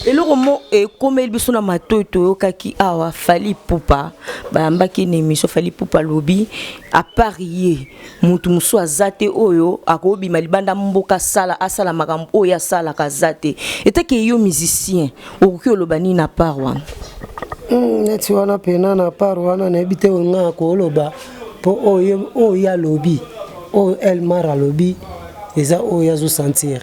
eloko mo ekomeli biso na matoi toyokaki awa fali ipupa bayambaki na émission fali ipupa alobi apart ye motu mosusu aza te oyo akobima libanda mboka asala asala makambo oyo ye asalaka aza te etake yo musicien okoki oloba nini na part wana hmm, neti wana mpena na part wana nayebi te oyo ngai akoloba mpo oyo ye alobi oyo elmar alobi eza oyo azosentir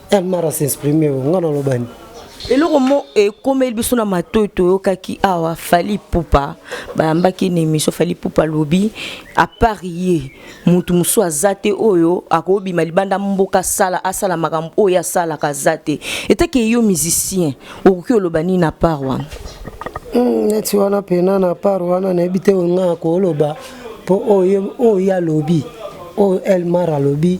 El Mara s'exprime, nga naloba nini? eloko mo ekomeli biso na matoi toyokaki awa fali pupa bayambaki na émission fali pupa alobi apart ye motu mosusu aza te oyo akobima libanda mboka asala asala makambo oyo asalaka aza te etake yo musicien okoki oloba nini na part wana hmm, neti wana pena na part wana nayebi te oyo nga akoloba mpo oyo ye alobi oyo elmar alobi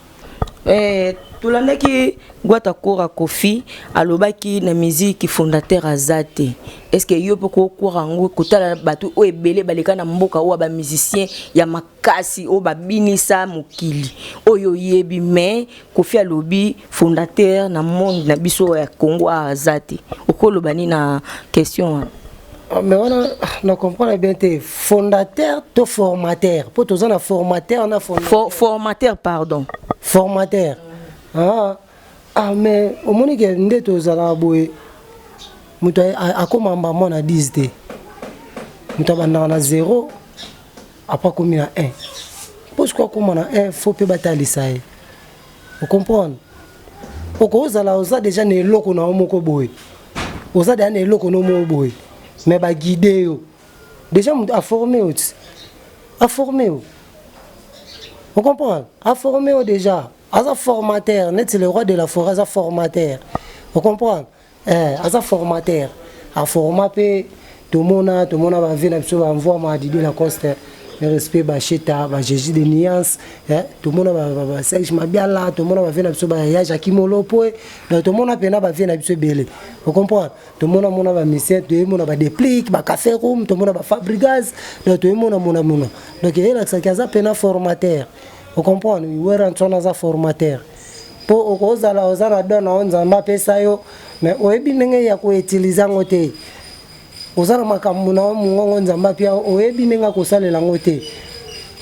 Eh, tolandaki Gwata Kora Kofi alobaki na musique fondateur azate. Est-ce que yo poko kora ngo kotala batu o ebele baleka na mboka o ba musiciens ya makasi o ba binisa mokili. Oyo yebi mais Kofi alobi fondateur na monde na biso ya Congo azate. Okoloba ni na question wana? Ah, mais wana na comprendre bien te fondateur to formateur mpo toza na formateur na For, formateur pardon formateur ah, ah mais omoni ke nde tozalaka boye moto akoma mbambo na 10 te moto abandaka na 0 apres akomi na 1 mpo soki akoma na 1 fo mpe batalisa ye o comprendre okozala oza deja na eloko na yo moko boye oza deja na eloko no moko boye me baguide yo deja moto aforme yo ti aforme yo o comprendre aforme yo deja aza formateur neti le roi de la forêt aza formateur o comprendre Eh, aza formateur. A forma pe tomona tomona ba vie na biso ba mvua ma Didier Lacoste. Le respect ba Sheta, ba Jésus de nuance, eh tomona ba, ba, ba Serge Mabiala, tomona ba vie na biso ba ya Jacques Molopo. eh. Donc tomona pena ba vie na biso ebele. Vous comprenez? Tomona mona ba musiciens, tomona ba déplic, ba café room, tomona ba Fabrigaz, donc tomona mona mona. Donc elakisa ki aza pena formateur. Vous comprenez? Werra Nsona aza formateur. po okozala oza na don na yo nzambe apesa yo me oyebi ndenge ya koutilize yango te oza na makambo na yo mongongo nzambe apia oyebi ndenge akosalela yango te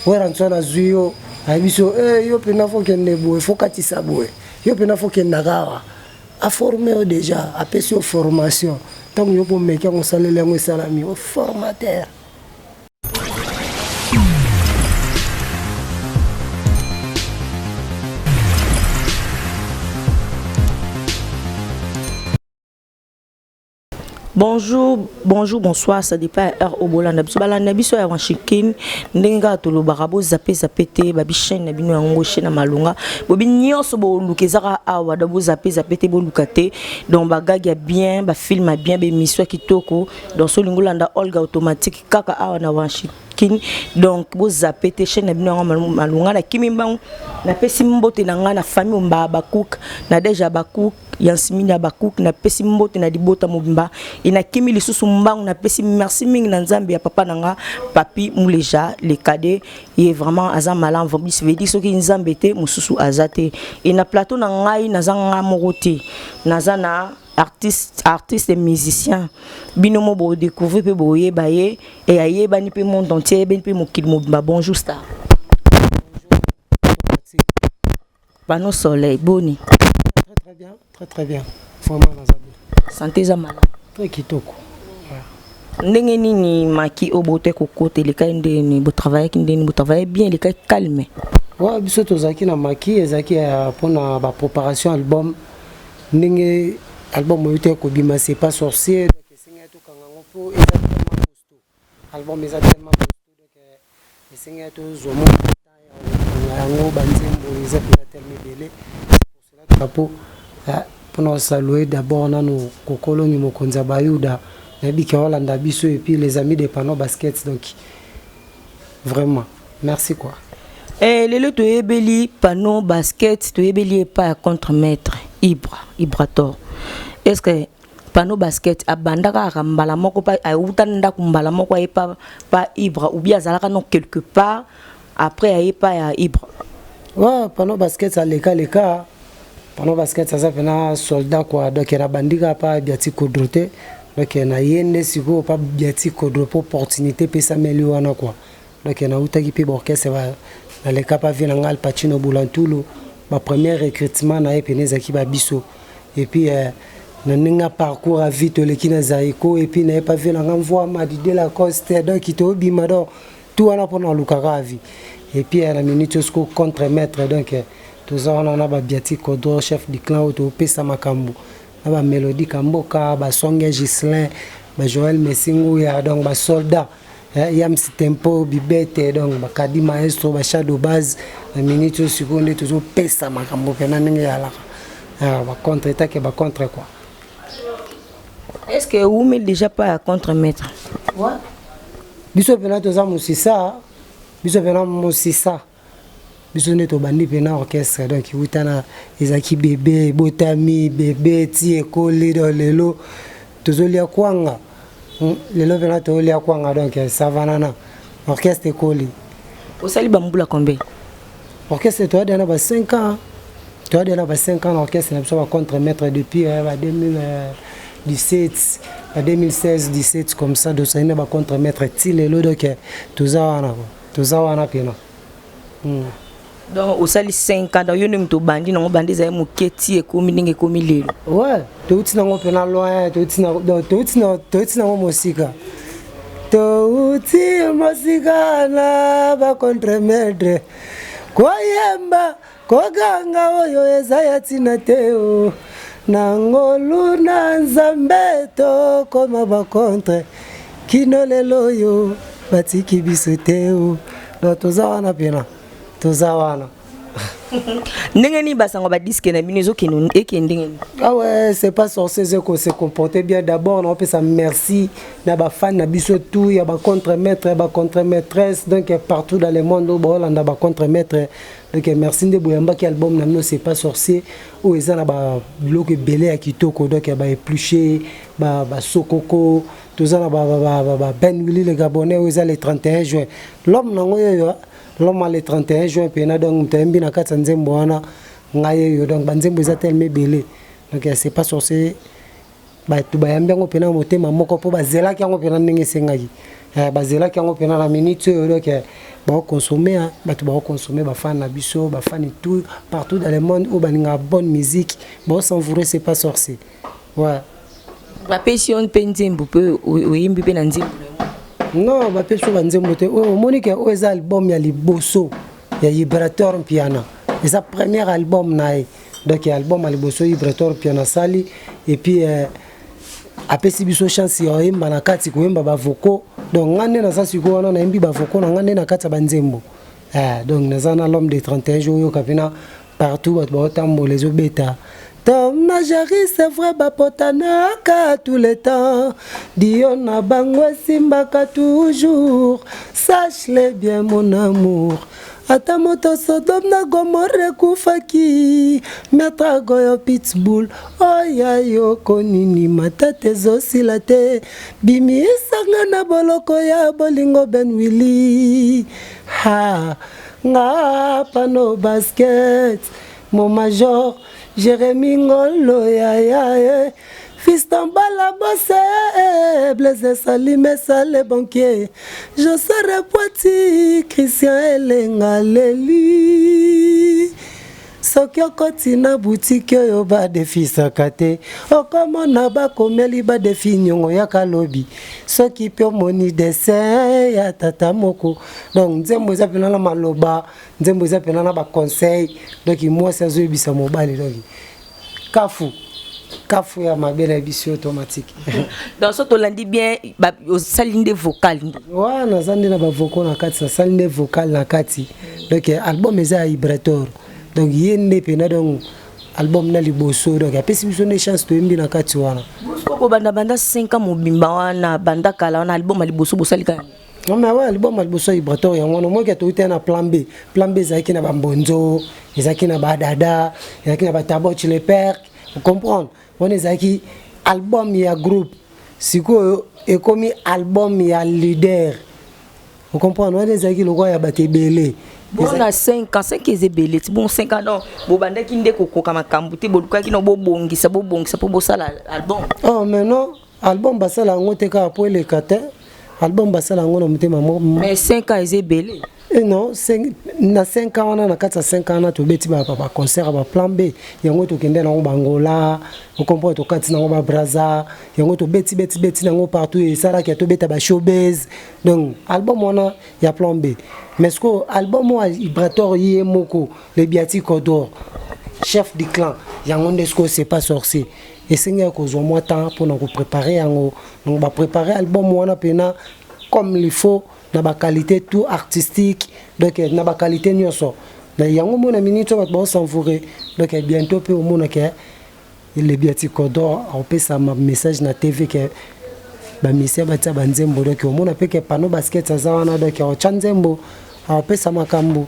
weranso nazwi yo ayebi so eh, yo mpena fokende boye fokatisa boye yo mpena fokendaka awa aforme yo deja apesi yo formation ntango yo komeki yango osaleli yango esalami oformatere bonjour bonjour bonsoir ça dépend ya heure oyo bolanda biso balanda biso ya washington ndenge kaka tolobaka bozape zape te babi chaîne na bino yango chaîne ya malonga bobi nyonso boluka ezaka awa donc bozape zape te boluka te donc bagage ya bien bafilme ya bien baémission ya kitoko donc so olingi olanda olga automatique kaka awa na Washington donc bo zappe te chaîne na bino yango malunga na kimi mbangu napesi mbote na ngai na famille omba Habakkuk na deja Habakkuk Yansimini Habakkuk napesi mbote na libota mobimba e nakimi lisusu mbangu napesi merci mingi na Nzambe ya papa na nga Papi Muleja le cadet ye vraiment aza malam vobis vedi soki Nzambe te mosusu aza te e na plateau na ngai naza nga moko te naza na artiste artiste et musicien bino mo bo découvrir pe bo yeba ye et ayebani pe monde entier ayebani pe mokili mobimba bonjour star bano soleil boni très très bien très très bien vraiment naza bien santé eza malamu très kitoko ndenge nini maki oyo botaki kokota elekaki ndenge nini botravaillaki ndenge nini botravaille bien elekaki calme wa biso tozalaki na maki ezalaki mpona bapreparation album Ndenge album oyuti ya kobima c'est pas sorcier donc esengi ya tokanga yango mpo eza tellement costaud. Album eza tellement costaud donc euh, esengi ya tozwa mwa temps ya kokanga yango banzembo eza mpenza tellement ebele pour cela drapeau ah, mpo na kosalue d'abord nano kokolongi mokonzi ya bayuda nayebiki aolanda biso et puis les amis de pano baskets donc vraiment merci quoi eh, lelo toyebeli pano basket toyebeli epa ya contre maître ibra ibrator est ce que pano basket abandaka aka mbala moko pa awuta ndako mbala moko aye pa, pa ibra ou bien azalaka no quelque part après aye pa ya ibra ouais, pano basket aleka leka pano basket aza mpena soldat kua donc nabandika pa biati kodro te donc naye nde sikoyo pa biati kodro mpo opportunité epesameli wana kua Donc na utaki pe ba orchestre ba na leka pa vie na nga Al Pacino Bulantulu ba premier recrutement na ye pene ezaki ba biso et puis euh, na ndenge ya parcours à vie toleki na Zaiko et puis na ye pa vie na nga mvua madi de la coste donc to bima donc tout wana pona lukaka à vie et puis euh, na minute oyo siko contre maître donc euh, toza wana na ba biati kodro chef du clan oyo to pesa makambo na ba melodie kamboka ba songe Gislin ba Joël Messinguya donc ba soldats Eh, yams tempo bibete donc bakadi maestro ba shadow base na minute oyo sikoyo nde tozopesa makambo mpena ndenge eyalaka ah, bacontre etake bacontre quoi est ce que ewumi déjà pas ya contre maître biso mpena toza mosisa biso mpena mosisa biso nde tobandi mpena orchestre donc wuta na ezalaki bebe ebotami bebe ti ekoli do lelo tozolia kwanga hmm, lelo mpena toolia kwanga donc savanana orchestre ekoli osali bambula combien orchestre toyadana ba 5 ans toyadana ba 5 ans na orchestre na biso ba contre maître depuis eh, ba 2017 ba 2016 17 comme ça dosali na ba contre maître ti lelo donc toza wana toza wana pena hmm. donc osali 5 ans donc yo nde moto obandi nango bandi ezali moke ti ekomi ndenge ekomi lelo we touti nango mpena loin touti nango mosika touti mosika na bacontremètre koyemba Koganga oyo eza ya tina te o oh. Na ngolu na Nzambe tokoma ba contre kino lelo oyo batiki biso te o oh. Na toza wana pena toza wana ndenge nini basango badiske na bino ezokende eke ndenge nini ah ouais c'est pas sorcier ezoko se comporter bien d'abord naopesa merci na bafane na biso tout ya bacontre maître ya bacontre maîtresse donc partout dans le monde oyo baolanda bacontre maître Ok, merci nde boyambaki album na bino c'est pas sorcier oyo eza na ba biloko ebele ya kitoko donc ya ba épluché ba ba sokoko toza na ba ba ba, ba, ba Ben Willy le Gabonais oyo eza le 31 juin l'homme na ngo yo yo l'homme le 31 juin pe na donc mtembi na kati ya nzembo wana ngai yo donc ba nzembo eza tellement ebele donc c'est pas sorcier bato bayambi yango mpena motema moko mpo bazelaki yango mpena ndenge esengaki eh, bazelaki yango mpena na minute oyo donc eh, baokonsome hein. bato baokonsome bafani na biso bafani tout partout dans le monde oyo balingaka bonne musique baosenvoure c'est pas sorcier ouais. bapesi yo mpe nzembo mpe oyembi mpe na nzembo non bapesi yo banzembo te oyo omoni ke oyo eza album ya liboso ya liberateur mpiana eza premier album na ye donc ya album ya liboso ivre torpion asali epuis eh, apesi biso chance ya oyemba na kati koyemba bavoko donc ngai nde naza sikoyo wana nayembi bavoko na ngai nde na kati ya banzembo eh, donc naza na l'homme de 31 jour oyoka mpena partout bato baotambola ezobeta Tom na Jerry c'est vrai bapotanaka tous les temps Dio na bango esimbaka toujours Sache-le bien mon amour Ata moto Sodome na Gomorre ekufaki Maître Goyo Pitbull oya yo konini matata ezosila te bimisanga na boloko ya bolingo Ben Willy ha nga pano basket mon major Jérémy Ngolo yaya eh. Fiston Bala Bosse, Blaise Sali Mesa le banquier, José Repoiti, Christian Elenga Leli. soki okoti na butiki oyo badefisaka te okomona bakomeli badefi nyongo ya kalobi soki mpe omoni dessin ya tata moko donc nzembo eza mpena na maloba nzembo eza mpena na baconseil donc mwasi azoyebisa mobali donc kafu kafu ya mabe na biso automatique donc so tolandi bien osali nde vocal nde wa naza nde na bavocal na kati nasali nde vocal na kati donc album eza ya ibrator donc ye nde mpena donc album na liboso donc apesi biso nde chance toyembi na kati wana bobanda banda 5 ans mobimba wana banda kala wana album ya liboso bosalika mais awa liboma liboso ya ibrator yango wana omoki atoki te na plan b plan b ezalaki na bambonzo ezalaki na badada ezalaki na bataboch le perk ocomprendre wana ezalaki album ya groupe sikoyo ekomi album ya leader ocomprendre wana ezalaki lokola ya bato ebele bona 5 ans 5 eza ebele ti bon 5 ans donc bobandaki nde kokoka makambo te bolukaki na bobongisa bobongisa mpo bosala album oh mais non Album basala yango te kaka po eleka te. Album basala yango na motema moko. Mais 5 ans eza ebele. Et eh non, cinq, na 5 ans wana na kati ya 5 ans wana tobeti ba ba concert ya ba plan B. Yango tokende nango Bangola, vous comprenez tokati nango ba Brazza, yango tobeti beti beti nango partout et ça là que tobeta ba showbiz. Donc album wana ya plan B. Mais ce que album wa Ibrator Yemoko, le Biati Kodor, chef du clan, yango ndesko c'est pas sorcier. esengeli kozwa mwa temps pona ko preparer yango donc ba preparer album wana pena comme il faut na ba qualité tout artistique donc na ba qualité nionso mais yango moi na minute bato bao s'envoure donc bientôt pe omona ke le biatikodor aopesa ma message na tv ke ba misia batia ba nzembo donc omona pe ke pano basket aza wana donc aotya nzembo aopesa makambo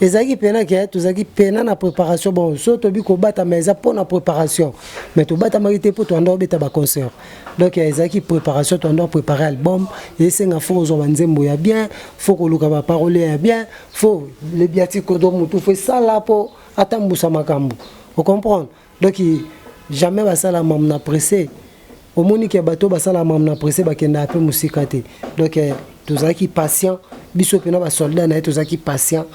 ezalaki pena ke tozalaki pena na préparation bon so tobi kobatama eza mpo na préparation mais tobatamaki te mpo toanda obeta baconcert donc ezalaki préparation toanda préparé album esenga fo kozwa banzembo ya bien fo koluka baparole ya bien fo lebiatikodo motu fo esala mpo atambusa makambo ocomprendre Donc jamais basala mamu na presse. Omoni ke bato basala mamu na presse bakendaka mpe mosika te. Donc eh, tozalaki patient biso mpe na basoldat na ye tozalaki patient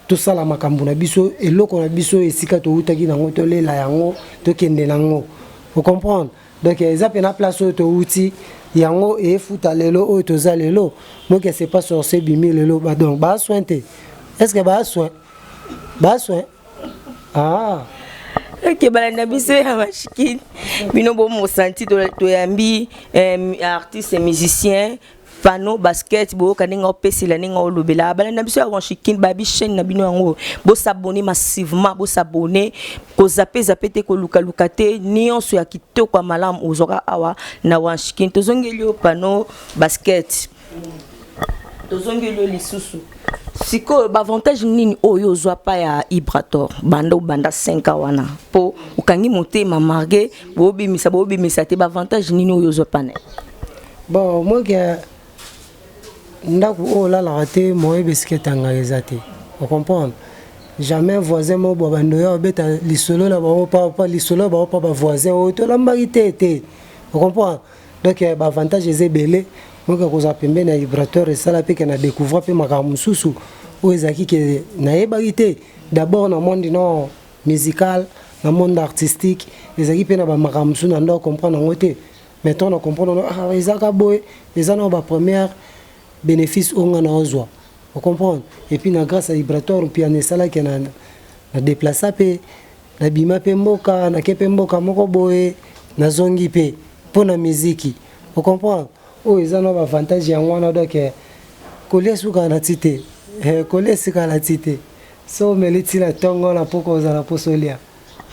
tosala makambo na biso eloko na biso esika towutaki nango tolela yango tokende nango ocomprendre donc eza mpe na place oyo towuti yango efuta lelo oyo toza lelo donc c'est pas sorcier bimi lelo donc baa soin te est ce que baa soin baa soin Ah. eke balanda biso ya mashikini bino bomosanti toyambi eh, artiste musicien pano basket boyoka ndenge opesela ndenge olobela balanda biso ya wanchikin babi chaîne na bino yango bosabone massivement bosabone kozape zape te kolukaluka te nyonso ya kitoko ya malamu ozwaka awa na wanchikin tozongeli yo pano basket tozongeli yo lisusu sikoyo baavantage nini oyo ozwa pa ya ibrator banda obanda 5 a wana mpo okangi motema marge boobimisa boobimisa te baavantage nini oyo ozwa pana bon moke ndako oyo olalaka te moye bisika etangaka eza te ocomprendre jamais voisin moko bwa bandoya obeta lisolo na bango papa lisolo na bango pa bavoisin oyo tolambaki te te ocomprendre donc eh, ba avantage eza ebele moke akozala pembeni ya vibrateur esala mpe ke na découvra mpe makambo mosusu oyo ezalaki ke nayebaki te d'abord na monde non musical na monde artistique ezalaki mpe na bamakambo mosusu na ndo comprendre yango te mais ntango na comprendre ah, ezaka boye eza na bapremière bénéfice oyo ngai naozwa ocomprendre epuis na grâce ya vibratoire mpiana esalaki na déplaça mpe Nabima pe mboka, nake pe mboka moko boye, nazongi pe po na miziki. O comprendre? Oyo eza nao b'avantage yango wana donc kolia esukaa na ti te. Eeh kolia esukaa na ti te. Soki omeli ti na tongo na pokwa ozala na posa olia.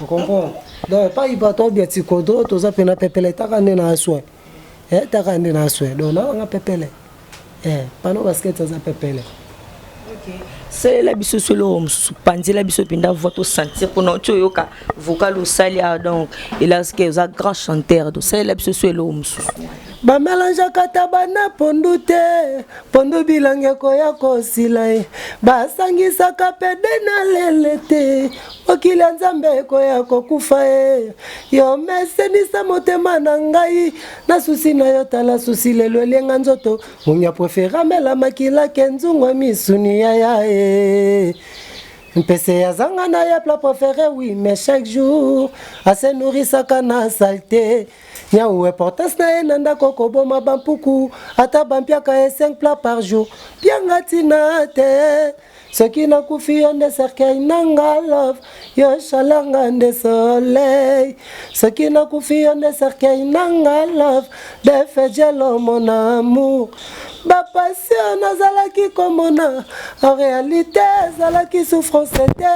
O comprendre? Donc epayi bato ya Biatsikodo toza pena pepeletaka nde na aswe. eh taka nde na swe donc na nga pepele eh pano basket aza pepele salela biso so eloko mosusu panzela biso mpenza voi tosentir mpona oti oyoka vocal osali a ah, donc elaske oza grand chanteur to salela biso so eloko mosusu bamelangeaka taba na pondu te pondu bilangi ekoya kosila ye basangisaka pede na lele te mokili ya nzambe ekoya kokufa e yo mesenisa motema na ngai na susi na yo tala susi lelo elienga nzoto munya prefera mela makila ke nzungo misuni ya ya e mpese ya zanga na ye pla prefere wi mais chaque jour ase nourisaka na salte nyau importance na ye na ndako koboma bampuku ata bampiaka ye 5 plat par jour pianga tina te soki nakufi yo nde cercueil nanga love yo shalanga nde soleil soki nakufi yo nde cercueil nanga love defejelo mon amour bapasio nazalaki komona en réalité ezalaki souffrance te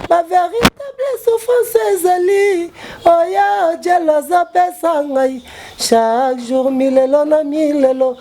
bavéritable souffrance ezali oya jelo azopesa ngai chaque jour milelo na milelo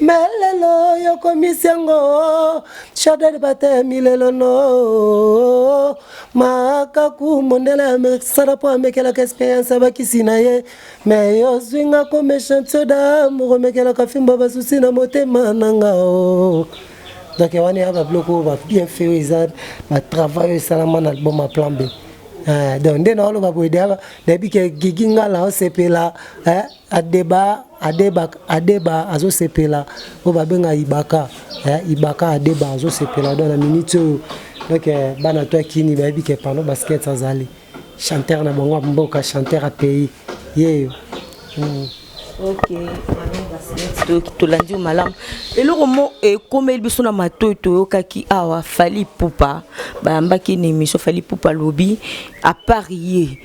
Mais lelo yo komisi yango Chadel batemi lelo no makaku mondele ya Amerika sala mpo amekelaka experience ya bakisi na ye mais yo ozwi nga ko méchant soda moko omekelaka fimbo basusi na motema na nga o donc wana ya babiloko oyo babien fait oyo eza batravail oyo esalama na album ya plan b donc nde naoloba boye deya nayebi ke gigi ngala osepela Adeba adeba adeba azo sepela oyo ba benga ibaka eh, ibaka adeba azo sepela donc na minute oyo donc eh, bana to kini ba yebi ke pano basket azali chanteur na bango mboka chanteur a pays yeyo mm. okay tolandi yo malamu eloko mo ekomeli eh, biso na matoi toyokaki awa fali pupa bayambaki na émission fali pupa alobi apart ye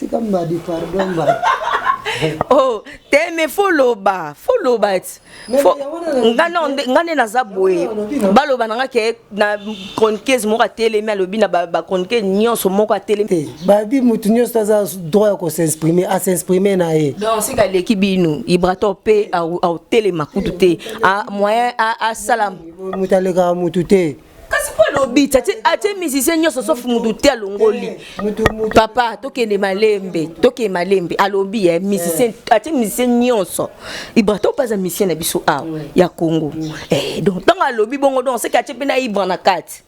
tika mbadi pardon mbadi oh te me fo loba fo loba ti nga nde naza boye baloba na nga ke na chroniqueuse moko atelemi alobi na bachroniqueuse nyonso moko atelemi eh, babi motu nyonso aza droit ya kosexprime asexprime na ye donc sika aleki bino ibrator mpe autelema kutu te moyen asala motu alekaka motu te kasi mpo alobi atie musicien nyonso sof mutu te alongoli papa tokende malembe tokende malembe alobi ye musicien atie musicien nyonso ibra to mpe aza musicien na biso awa ya congo eh, donc ntango alobi bongo donc seke atie mpe na ibra na kati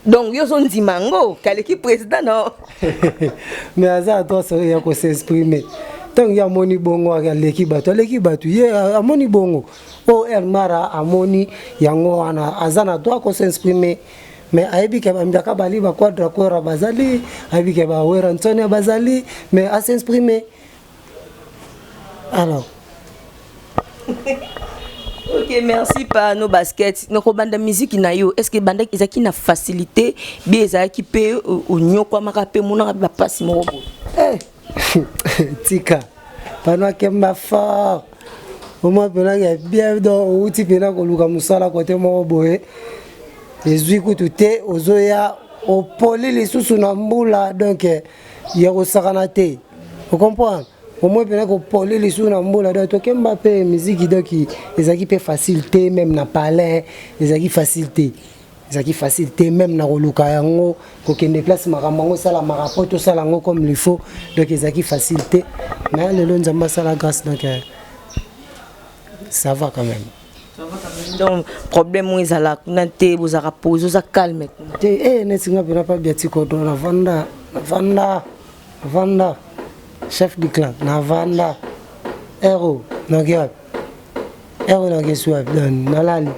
donc yo ozondima yango kaleki président no mais aza ato ya kosexprime ntango ye amoni bongo aleki bato aleki bato ye amoni bongo Oyo El Mara amoni yango wana aza na droit ko s'exprimer mais ayebi ke bambiaka bali ba quadra quora bazali ayebi ke ba wera nsonia bazali mais a s'exprimer alors ok merci pa no basket na kobanda miziki na yo est ce que ebandaki ezalaki na facilité be ezalaki mpe onyokwamaka mpe monaka mpe bapasi moko boye eh, tika pano akemba fort omwa mpena ya bien do outi mpena koluka mosala kote moko boye ezwi kutu te ozoya opoli lisusu na mbula donk ya kosakana te ocomprendre omoi mpena kopoli lisusu na mbula donk tokemba mpe miziki donk ezalaki mpe facile te meme na palin ezalaki facile te ezalaki facile te meme na koluka yango kokende place makambo yango esalamaka mpo tosala yango comme le faut donc ezalaki facile te mais lelo nzambe asala grâce donc euh, ça va quand même donc problème oyo ezala kuna te bozalaka pose oza calme te e neti nga mpena pabia tikodo na vanda na vanda vanda chef du clan na vanda ero noki wapi Ero na kesi wapi nani nalali.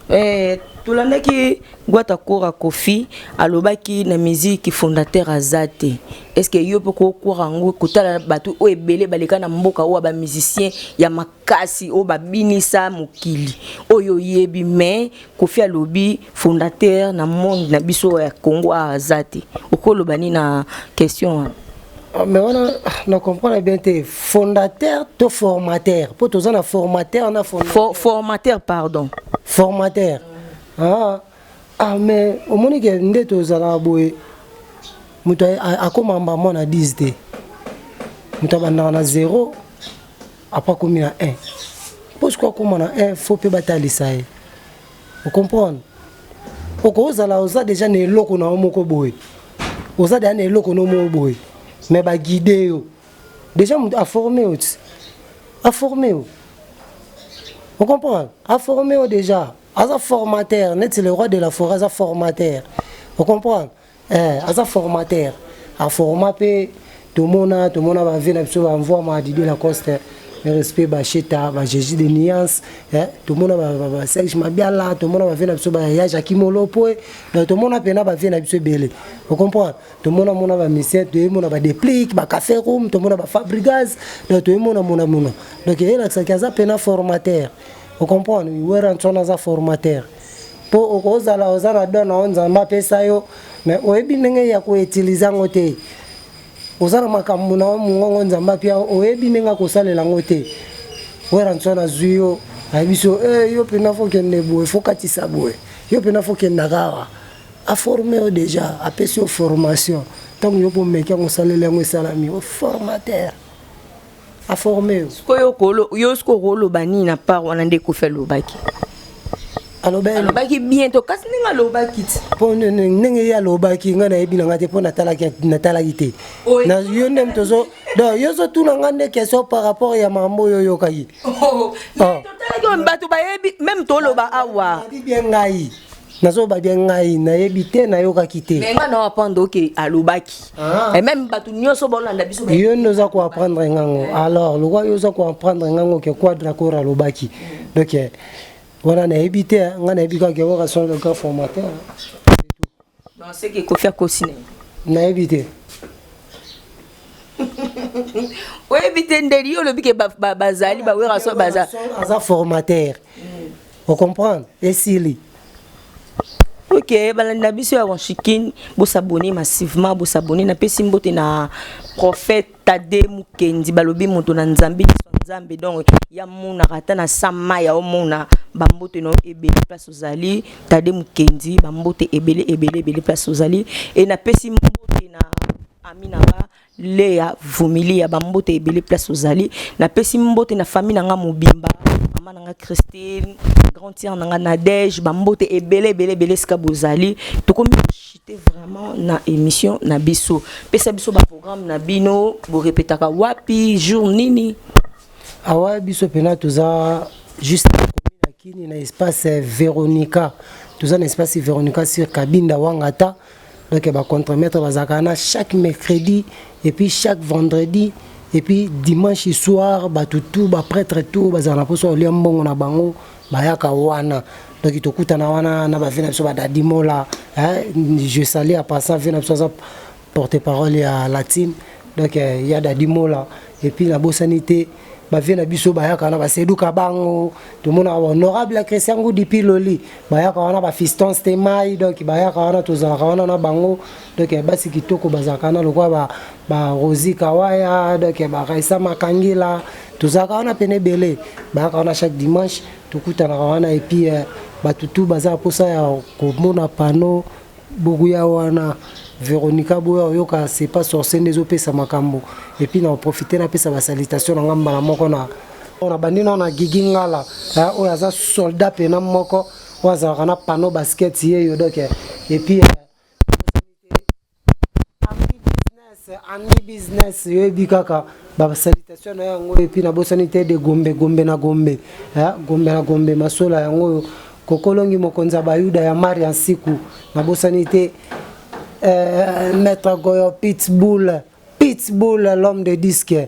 Eh, tolandaki Gwata Kora Kofi alobaki na musique fondateur azate. Est-ce que yo poko kora ngo kotala batu o ebele baleka na mboka o ba musiciens ya makasi o babinisa mokili. Oyo yebi mais Kofi alobi fondateur na monde na biso ya Congo aza te okoloba nini na question wana ah, mais wana na comprendre bien te fondateur to formateur mpo toza na formateur na For, formateur pardon formateur ah, ah mais omoni ke nde tozalaka boye moto akoma mbamba na 10 te moto abandaka na 0 apres akomi na 1 mpo sikoyo akoma na 1 fo mpe batalisa ye o comprendre okozala oza deja na eloko na yo moko boye oza deja na eloko no moko boye me baguide yo deja moto aforme yo ti aforme yo o comprendre aforme yo deja aza formateur neti le roi de la forêt aza formateur o comprendre Eh, aza formateur. A forma pe tomona tomona ba vie na biso ba mvua ma Didier Lacoste. Le respect ba Cheta, ba Jésus de nuance, eh tomona ba, ba, ba Serge Mabiala, tomona ba vie na biso ba ya Jacques Molopo. eh. Donc tomona pena ba vie na biso ebele. Vous comprenez? Tomona mona ba musiciens, tomona ba déplic, ba café room, tomona ba Fabrigaz. Donc tomona mona mona. Donc elakisa ki aza pena formateur. Vous comprenez? Werra Nsona aza formateur. po okozala oza na don na yo nzambe apesa yo me oyebi ndenge ya koutilize yango te oza na makambo na yo mongongo nzambe apia oyebi ndenge akosalela yango te weranso nazwi yo ayebi so eh, yo mpena fokende boye fokatisa boye yo mpena fokendaka awa aforme yo deja apesi yo formation ntango yo bomeki yango osaleli yango esalami oformatere a forme yo sikoyo kolo yo siko okoloba nini na part wana nde kofi alobaki alobaki bien to kasi ndenge alobaki ti mpo ndenge ye alobaki ngai nayebi na ngai te mpo natalaki te yo nde tozo don yo ozotuna ngai nde question par rapport ya mambo oyo oyokaki oh, oh. Ah. bato bayebi meme toloba awa bien ngai nazoba bia ngai nayebi te nayokaki te mais nga na apprendre oke alobaki ah. et même bato nyonso baolanda biso yo nde oza koapprendre ngango alors lokwa yo oza koapprendre ngango ke quadra kora alobaki donc eh, wana nayebi te eh. nga nayebi kaka keora son le grand formateur non c'est que kofi akosi na nayebi te oyebi te ndeli yo olobi ke bazali bawera so baza aza formateur mm. o comprendre esili ok balandi na biso ya wanchikin bosabone massivement bosabone napesi mbote na prophète tade mukendi balobi moto na nzambe nzambe donc ya monaka ata na sama ya omona bambote na ebele place ozali tade mukendi bambote ebele ebele ebele place ozali e napesi mbote na aminaba Lea vumilia ba mbote ebele place ozali na pesi mbote na famille na nga mobimba mama na nga Christine grand tiere na nga Nadège ba mbote ebele ebele ebele esika bozali tokomi koshite vraiment na emission na biso pesa biso ba programme na bino borepetaka wapi jour nini awa biso mpena toza juste na kini na espace Veronica toza na espace Veronica sur Kabinda Wangata Donc ba contre-maître bazalaka na chaque mercredi et puis chaque vendredi et puis dimanche soir bato tout ba prêtre tout bazala na poso olia mbongo na bango bayaka wana donc tokutana wana na bavie na biso badadimola je sali à passant vie na biso aza porte parole ya latine donc ya dadimola et puis nabosani te bavie na biso bayaka wana baseduka bango tomonaka honorable ya christian ngudi piloli bayaka wana bafiston stemai donc bayaka wana tozalaka wana na bango donc ya basi kitoko bazalaka na lokola barosi kawaya donc ya baraisa makangila tozalaka wana pene ebele bayaka wana chaque dimanche tokutanaka wana epuis euh, bato tu baza mposa ya komona pano Buku ya wana Veronica boya oyoka c'est pas sorcier nde ezopesa makambo et puis na profiter napesa ba salutation na nga mbala moko na na bandi na na Gigi Ngala eh, oyo aza soldat pena moko oyo azalaka na panneau basket yeyo donc eh, et puis eh, ami business yoyebi kaka basalitation na yango oyo epuis nabosani te de gombe gombe na gombe gombe na gombe masola yango oyo kokolongi mokonzi ya bayuda ya mari ya nsiku nabosani te eh, maître goyo pitbull pitbull l'homme de disque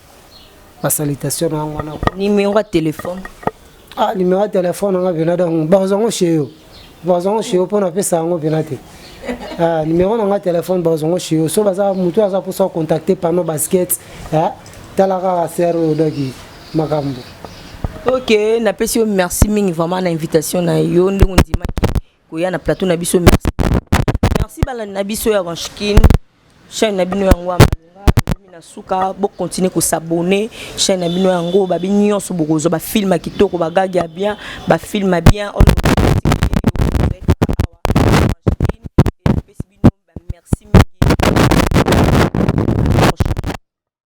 ba salutation na yango wana numéro ya téléphone ah numéro ya téléphone nanga pena donc bakozwa yango chez yo bakozwa yango chez yo mpo napesa yango pena te ah, numéro nanga téléphone bakozwa yango chez yo so baza motu aza mposa contacte pano basket ah, tala kaka ser oyo doki makambo ok napesi yo merci mingi vraiment na invitation na yo ndenge ondimaki koya na plateau na biso merci merci balandi na biso ya ranchkin chaîne na bino yango ya malonga ekomi na suka bokontinue kosabone chaîne na bino yango babi nyonso bokozwa bafilme ya kitoko bagage ya bien bafilme ya bien oyo